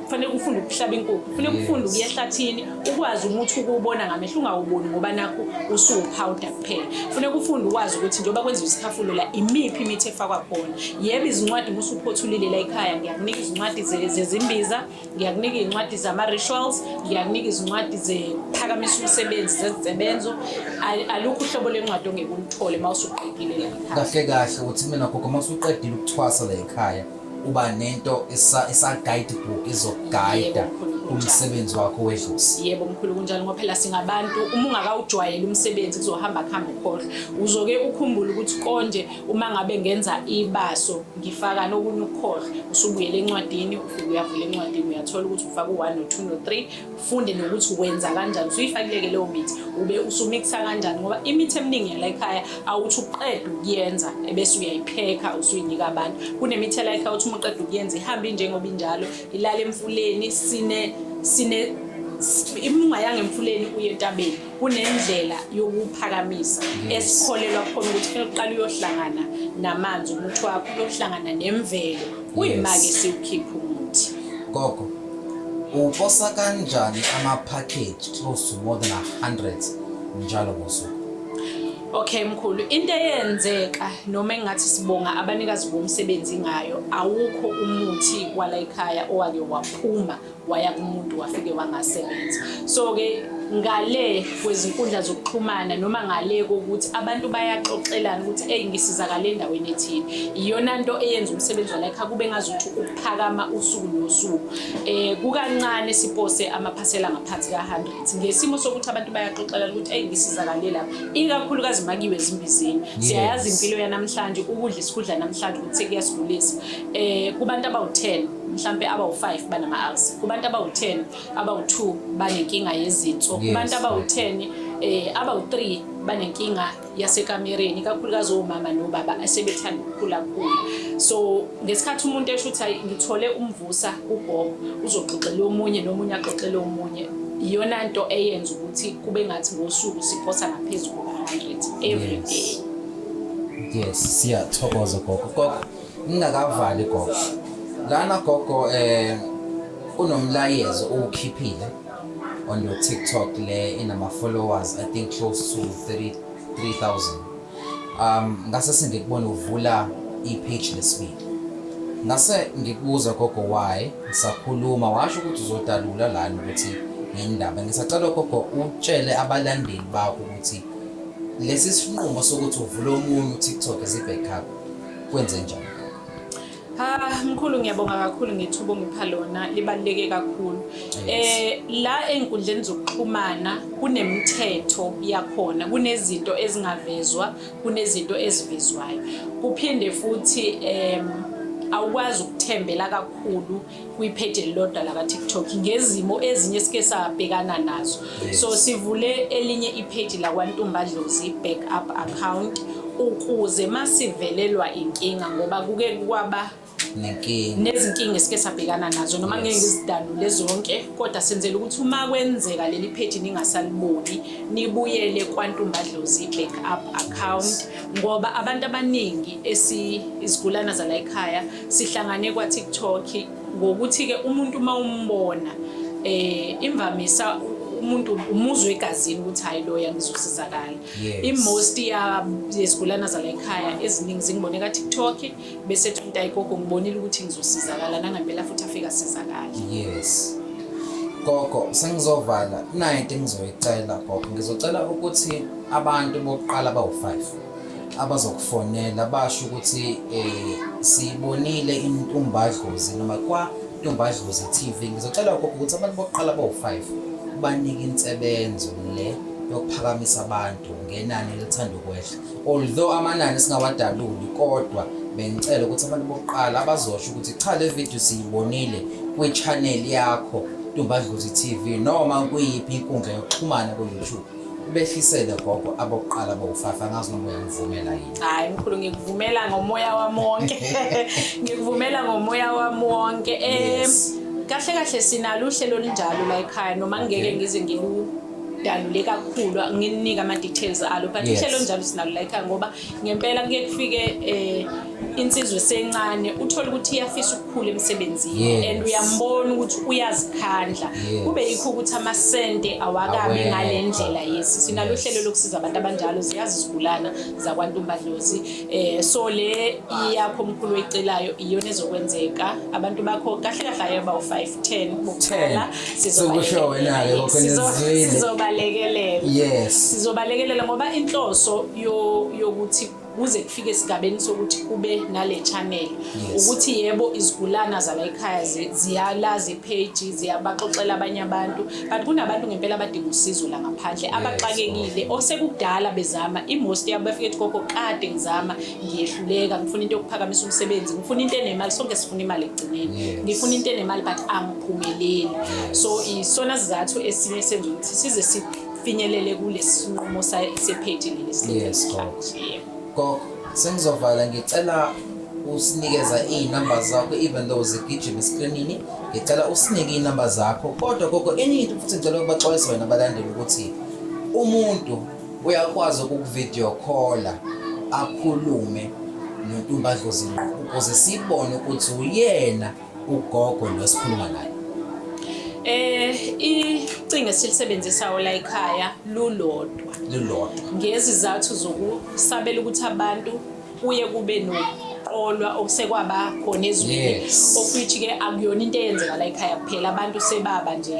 kufanele ufunde ukuhlaba inkukhu kufanele ufunde ukuya ehlathini ukwazi umuthi ukuwubona ngamehlo ungawuboni ngoba nakho usuwuphawuda kuphela kufanele ufunde ukwazi ukuthi njengoba kwenziwa isikhafulo la imiphi imithi efakwa khona yebo izincwadi uma usuphothulile la ekhaya ngiyakunika izincwadi zezimbiza ngiyakunika izincwadi zama-rituals ngiyakunika izincwadi zephakamisa umsebenzi zezisebenzo alukho uhlobo lwencwadi ongeke ulithole uma usuqedile kahle kahle ukuthi mina gogo uma usuqedile ukuthwasa la ekhaya uba nento esa-guide book izokugayida umsebenzi wakho wedlozi yebo mkhulu kunjalo ngoba phela singabantu uma ungakawujwayeli umsebenzi kuzohamba kuhambe ukhohlwa uzoke ukhumbule ukuthi konje uma ngabe ngenza ibaso ngifaka nokunye ukukhohlwa usubuyela encwadini ufike uyavula encwadini uyathola ukuthi ufaka u-one no-two no-three ufunde nokuthi wenza kanjani usuyifakileke leyo mithi ube usumikisa kanjani ngoba imithi eminingi yala ekhaya awuthi uqeda ukuyenza ebese uyayiphekha usuyinika abantu kunemithi yala ekhaya uthi uma uqeda ukuyenza ihambe injengoba injalo ilale emfuleni sine sine imungayanga emfuleni uye entabeni kunendlela yokuphakamisa mm. esikholelwa khona ukuthi kufanele uqale uyohlangana namanzi umuthi wakho uyohlangana nemvelo kuyima-ke siwukhiphe umuthi gogo uposa kanjani ama-package close to more than 100 njalo ngosuku Okay mkhulu into eyenzeka noma engathi sibonga abanikazi bomsebenzi ngayo awukho umuthi kwala ekhaya owake waphuma waya kumuntu wafike wangasebenza so ke ngale kwezinkundla zokuxhumana noma ngale kokuthi abantu bayaxoxelana ukuthi eyi ngisizakale endaweni ethile iyona nto eyenza umsebenzi walekha kube ngazuthi ukuphakama usuku nosuku um kukancane sipose amaphasela ngaphansi ka-hundred ngesimo sokuthi abantu bayaxoxelana ukuthi eyi ngisizakale lapha ikakhulukazi makiwe ezimbizini siyayazi impilo yanamhlanje ukudla isikudla namhlanje ukuthi sekuyasigulisa um kubantu abawu-ten mhlampe abawu-5 banama-ulcer kubantu abawu-10 abawu-2 banenkinga yezinso kubantu abawu-10 eh abawu-3 banenkinga yasekamereni kakhulukazi omama nobaba asebethanda ukukhula khulu so ngesikhathi umuntu esho ukuthi hayi ngithole umvusa ugogo uzoxoxela omunye nomunye axoxele omunye iyona nto eyenza ukuthi kube ngathi ngosuku siphosa ngaphezulu kuka-100 every day yes siyathokoza gogo gogo Ngingakavali gogo. Lana gogo eh unomlayezo uwukhiphile on your TikTok le inama followers I think close to 30 3000. Um ngase sengikubona uvula i-page lesibili. Ngase ngikubuza gogo why sakhuluma washo ukuthi uzodalula lana ukuthi ngendaba. Ngisacela gogo utshele abalandeli bakho ukuthi lesi sinqumo sokuthi uvule omunye uTikTok is a backup. kwenze njani Ah mkhulu ngiyabonga kakhulu ngethuba ongipha lona libaluleke kakhulu. Eh la enkundleni zokuxhumana kunemithetho yakhona, kunezinto ezingavezwa, kunezinto ezivezwayo. Kuphinde futhi em awukwazi ukuthembela kakhulu kwipheji elilodwa lakaTikTok ngezimo ezinye esike sabhekana nazo so sivule elinye ipheji lakwaNtumbadlozi back up account ukuze masivelelwa inkinga ngoba kuke kwaba nezinkinga esike sabhekana nazo noma ngeke ngizidalule zonke kodwa senzela ukuthi uma kwenzeka leli pheji ningasaliboni nibuyele kwantumbadlozi back up account ngoba abantu abaningi esizigulana zala ekhaya sihlangane kwa-tiktok ngokuthi-ke umuntu uma umbona eh imvamisa umuntu umuzwe egazini ukuthi hayi loya ngizosizakala i-most yezigulana zala ekhaya eziningi zingibone ka-tiktok bese thinta igogo ngibonile ukuthi ngizosizakala nangempela futhi afika sizakala yes gogo sengizovala nayo into engizoyicela gogo ngizocela ukuthi abantu bokuqala bawu-five abazokufonela basho ukuthi um siyibonile intumbadlozi noma kwantumbadlozi TV ngizocela ukho ukuthi abantu bokuqala bawu-five banike insebenzo le yokuphakamisa abantu ngenani elithanda ukwehla although amanani singawadaluli kodwa bengicela ukuthi abantu bokuqala abazosho ukuthi cha le video siyibonile kwi-channel yakho Ntumbadlozi TV noma kuyiphi inkundla yokuxhumana ku-YouTube. Ubehlisele gogo abokuqala bowufafa ngazi noma uyangivumela yini. Hayi mkhulu ngikuvumela ngomoya wami wonke. Ngikuvumela ngomoya wami wonke. Eh kahle kahle sinalo uhlelo olunjalo la ekhaya noma ngeke ngize ngilu dalule kakhulu ngininika ama details alo but uhlelo njalo sinalo la ekhaya ngoba ngempela kuye kufike eh insizwe sencane uthola ukuthi iyafisa ukukhula emsebenzini yes. and uyambona ukuthi uyazikhandla yes. kube yikho ukuthi amasente awakabi ngale ndlela yesi sinalo uhlelo yes. lokusiza abantu abanjalo ziyazi izigulana zakwantumbadlozi eh so le iyakho omkhulu oyicelayo iyona ezokwenzeka abantu bakho kahle kahle ayoba u5 10 bokuqala sizokusho wena ke kokhonizwile sizobalekelela yes sizobalekelela ngoba inhloso yokuthi kuze kufike esigabeni sokuthi kube nale channel ukuthi yebo izigulana zala ekhaya ziyalazi ipage ziyabaxoxela abanye abantu but kunabantu ngempela abadinga usizo la ngaphandle abaxakekile osekudala bezama imost yabo bafike ethi gogo kade ngizama ngiyehluleka ngifuna into yokuphakamisa umsebenzi ngifuna into enemali sonke sifuna imali ekugcineni ngifuna into enemali but angiphumeleli so isona sizathu esinye senza ukuthi size sifinyelele kulesi sinqumo sephethe leli sileesikhathi gogo sengizovala ngicela usinikeza iy'namba zakho even though zigijima esikrinini ngicela usinike iy'namba zakho kodwa gogo enye into futhi ngicela ukubaxwayisa wena abalandeli ukuthi umuntu Uyakwazi ukukuvideo call akhulume noNtumbadlozi ngqo ukuze sibone ukuthi uyena ugogo lo sikhuluma naye. Eh icingo esilisebenzisa ola ekhaya lulodwa. Lulodwa. Ngezizathu zokusabela ukuthi abantu kuye kube no ukuqolwa okusekwaba khona ezweni of which ke akuyona into eyenzeka la ekhaya kuphela abantu sebaba nje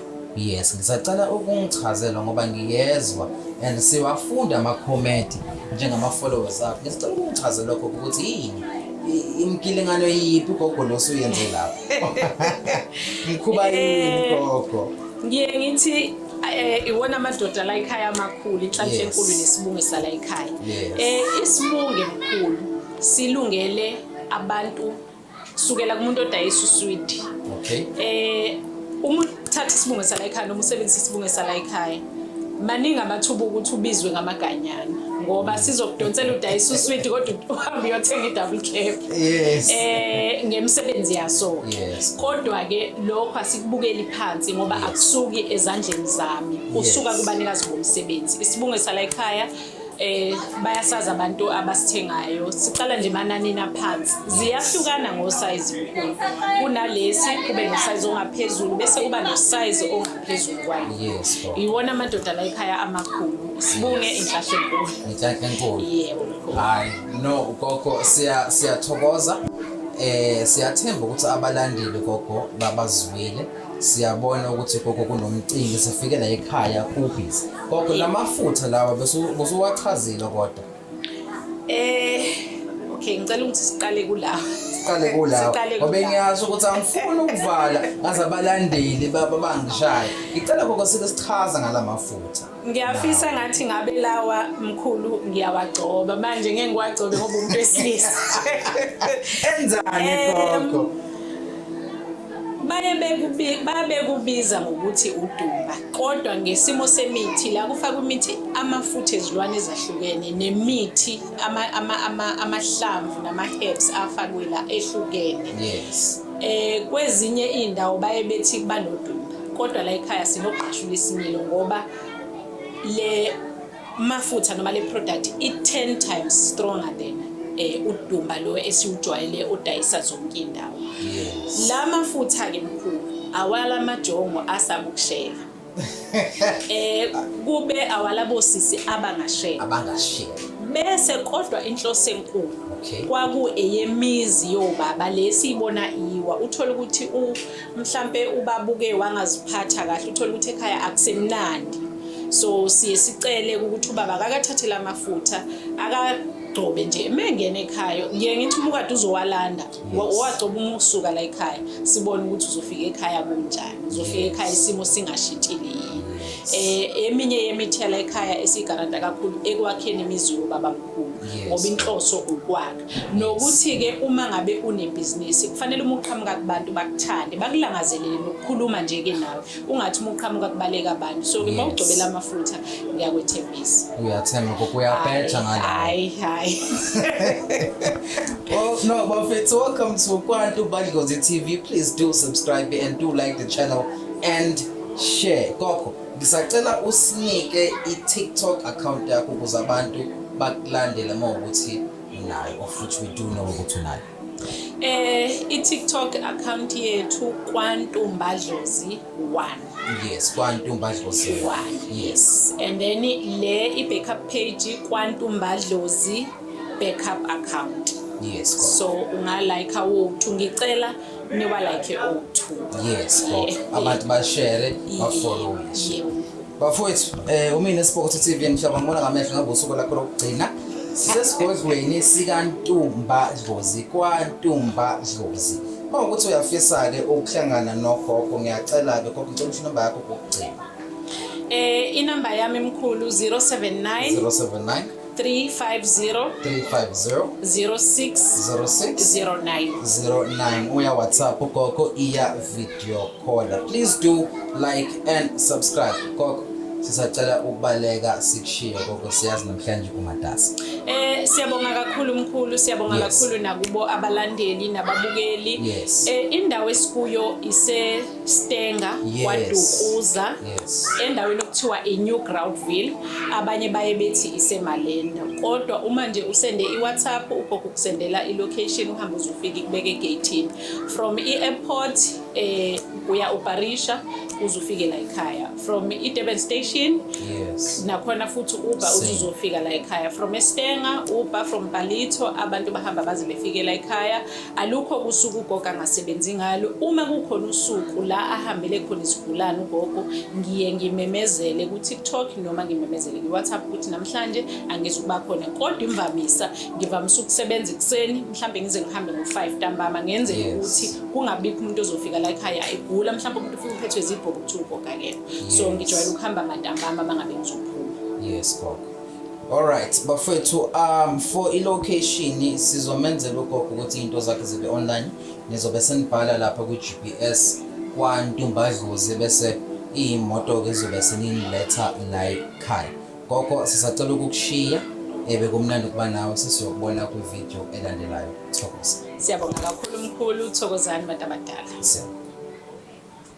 Yes, ngisacela ukungichazela ngoba ngiyezwa and siwafunda amakhomenti njengama-followers akho. Ngisacela ukungichazela lokho ukuthi yini i- imkilingano yiphi ugogo nosuyenze lapho. Mkhuba yini Eh. gogo? ngiye ngithi eh, iwona amadoda la ekhaya amakhulu inhlanhla Yes. enkulu nesibunge sala ekhaya Yes. Eh, isibunge mkhulu silungele abantu sukela kumuntu odayisa uswidi okay eh uma uthatha isibunge sala ekhaya noma usebenzisa isibunge sala ekhaya maningi amathuba ukuthi ubizwe ngamaganyana ngoba sizokudonsela udayisa uswidi kodwa uhambe uyothenga i-double cap yes. eh ngemisebenzi yaso yes. kodwa-ke lokho asikubukeli phansi ngoba yes. akusuki ezandleni zami usuka yes. kubanikazi bomsebenzi isibunge sala ekhaya eh bayasazi abantu abasithengayo siqala nje mananini aphansi ziyahlukana ngosize kukhulu kunalesi kube nosize ongaphezulu bese kuba nosize ongaphezulu kwayo yes iwona amadoda la ekhaya amakhulu sibunge inhlahla enkulu inhlahla enkulu yebo hayi no gogo siya siyathokoza eh siyathemba ukuthi abalandeli gogo babazwile siyabona ukuthi gogo kunomcimbi sifike la ekhaya kubhizi gogo la mafutha lawa besu- busuwachazile kodwa Eh okay ngicela ukuthi siqale kula. siqale kulawo Siqale ngoba kulawo. ngiyazi ukuthi angifuni ukuvala ngaze abalandeli baba bangishaya ngicela gogo sike sichaza ngala mafutha ngiyafisa ngathi ngabe lawa mkhulu ngiyawagcoba manje ngeke ngiwagcobe ngoba umuntu wesilisa enzani gogo baye bekubiza ngokuthi udumba kodwa ngesimo semithi la kufaka imithi amafutha ezilwane ezahlukene nemithi amahlamvu nama-herbs afakwe la ehlukene yes Eh kwezinye indawo baye bethi kuba nodumba kodwa la ekhaya sinogqashula isimilo ngoba le mafutha noma le product i 10 times stronger than eh udumba lo esiwujwayele odayisa zonke indawo. La mafutha ke mkhulu awala majongo asamukushela. eh kube awalabo sisi abangashela abangashela bese kodwa inhloso enkulu okay. kwaku eyemizi yobaba lesiyibona iwa uthola ukuthi u mhlambe ubabuke wangaziphatha kahle uthola ukuthi ekhaya akusemnandi so siye sicele ukuthi ubaba akakathathela amafutha aka agcobe nje mengene ekhaya ngiye ngithi umukade uzowalanda wagcoba uma ukusuka la ekhaya sibone ukuthi uzofika ekhaya kunjani uzofika ekhaya isimo singashintshile yini um eminye yemithela ekhaya esiyigaranta kakhulu ekwakheni imizi yobaba mkhulu ngoba inhloso ukwakha nokuthi-ke uma ngabe unebhizinisi kufanele uma uqhamuka kubantu bakuthande bakulangazelele nokukhuluma nje-ke nawe ungathi uma uqhamuka kubaleka abantu so ke mawugcobela amafutha ngiyakwethembisa uyathemba koko uyabheja ngale hayi hayi well no bafethu welcome to kwantu badlozi tv please do subscribe and do like the channel and share koko ngisacela usinike i-tiktok account yakho ukuze abantu bakulandele uma ukuthi unayo or futhi we do know ukuthi unayo Eh i-TikTok account yethu kwantumba dlozi 1. Yes, kwantumba dlozi 1. Yes. And then le i-backup page kwantumba dlozi backup account. Yes. Go. So unga like awu ngicela niwa like o2. Yes, go. Abantu ba share, ba follow. Yes. Bafowethu, eh umina Spokotho TV mhlaba ngibona ngamehlo ngabe usuku lakho lokugcina. Sisesigodlweni sikaNtumba Dlozi kwaNtumba Dlozi. Uma ukuthi uyafisa ke ukuhlangana nogogo ngiyacela ke gogo ngicela ukuthi number yakho kokugcina. Eh inamba yami mkhulu 079 079 350 350 06 uya whatsapp gogo iya video caller please do like and subscribe gogo sisacela ukubaleka sikushiye gogo siyazi namhlanje umatasa eh siyabonga kakhulu mkhulu siyabonga yes. kakhulu nakubo abalandeli nababukeli yes. eh indawo esikuyo ise Stenga yes. kwaDukuza yes. endaweni okuthiwa iNew Groundville abanye baye bethi iseMalenda kodwa uma nje usende iWhatsApp ugogo kusendela ilocation uhamba uzofika ikubeke egate from i-airport eh uya uBarisha uzofike la ekhaya from iDurban station yes nakhona futhi uba uzofika la ekhaya from eStenga uba from Palito abantu bahamba baze befike la ekhaya Alukho usuku ugogo angasebenzi ngalo. Uma kukhona usuku la ahambele khona isigulane ugogo, ngiye ngimemezele ku-TikTok noma ngimemezele ku-WhatsApp ukuthi namhlanje angizi ukuba khona. Kodwa imvamisa ngivamise ukusebenza ekuseni, mhlawumbe ngize ngihambe ngo-five ntambama ngenzele ukuthi kungabikho umuntu ozofika la ekhaya egula, mhlawumbe umuntu ufike uphethwe zibhobo kuthiwa ugogo akekho. So ngijwayele ukuhamba ngantambama uma ngabe ngizophuma. Yes, gogo. Alright bafethu um for ilocation sizomenzela ugogo ukuthi into zakhe zibe online nizobe senibhala lapha kwi-GPS kwantumbadlozi bese iyimoto ke zobe seniletha la ekhaya gogo sisacela ukukushiya ebe kumnandi ukuba nawe sesiyokubona kwivideo elandelayo thokoza siyabonga kakhulu mkhulu thokozani bantu abadala siyabonga